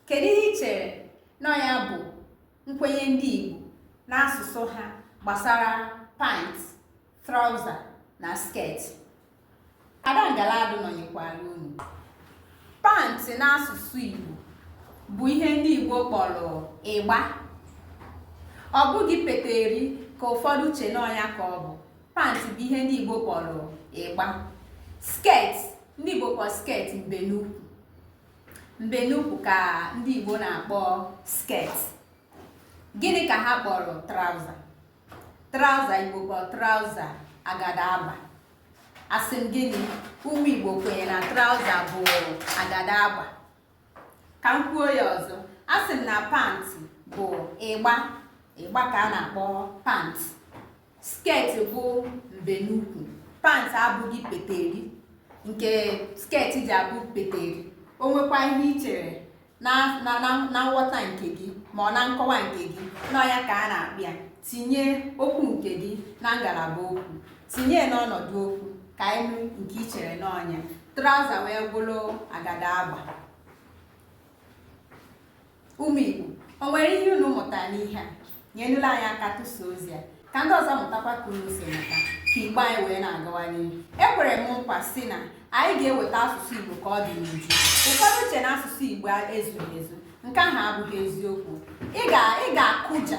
kedu ihe i chere na ya bụ nkwenye ndị Igbo n'asụsụ ha gbasara pant trauza na sket ada ngaladụ nọnyekwara unu pantị n'asụsụ Igbo bụ ihe ndị Igbo kpọrọ ịgba ọ bụghị peteri ka ụfọdụ che na ọ nya ka ọ bụ pantị bụ ihe ndị Igbo kpọrọ ịgba sket ndị Igbo kpọrọ sket mbenukwu Mbenukwu ka ndị Igbo na-akpọ sket. Gịnị ka ha kpọrọ trauza? Trauza Igbo kpọrọ trauza agada agba. Asị m gịnị? Ụmụ Igbo kwenye na trauza bụ agada agba. Ka m kwuo ya ọzọ. Asị m na pantị bụ ịgba. Ịgba ka a na-akpọ pantị. Sket bụ mbenukwu. Pant abụghị peteri nke sket ji abụ peteri. O nwekwa ihe i chere na nghọta nke gị ma ọ na nkọwa nke gị na ọ ya ka a na-akpọ ya tinye okwu nke gị na ngalaba okwu tinye n'ọnọdụ okwu ka anyị nụ nke i chere na ọ nya traụza wee bụrụ agada agba Ụmụ Igbo, o nwere ihe unu mụta n'ihe a? Nyenụla anyị aka tụsa ozi a ka ndị ọzọ mụtakwa ka unu si mụta ka Igbo anyị wee na-agawa n'ihu. Ekwere m nkwa sị na anyị ga-eweta asụsụ Igbo ka ọ dị n'uju. Ụfọdụ che na asụsụ Igbo ezughị ezu. Nke ahụ abụghị eziokwu. Ị ga-akụja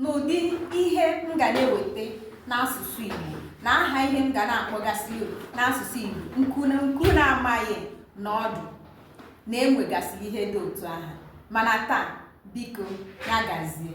n'ụdị ihe m ga na-eweta n'asụsụ Igbo na aha ihe m ga na-akpọgasị n'asụsụ Igbo nke unu na-amaghị na ọ dụ na e nwegasịrị ihe dị otu aha mana taa biko ya gazie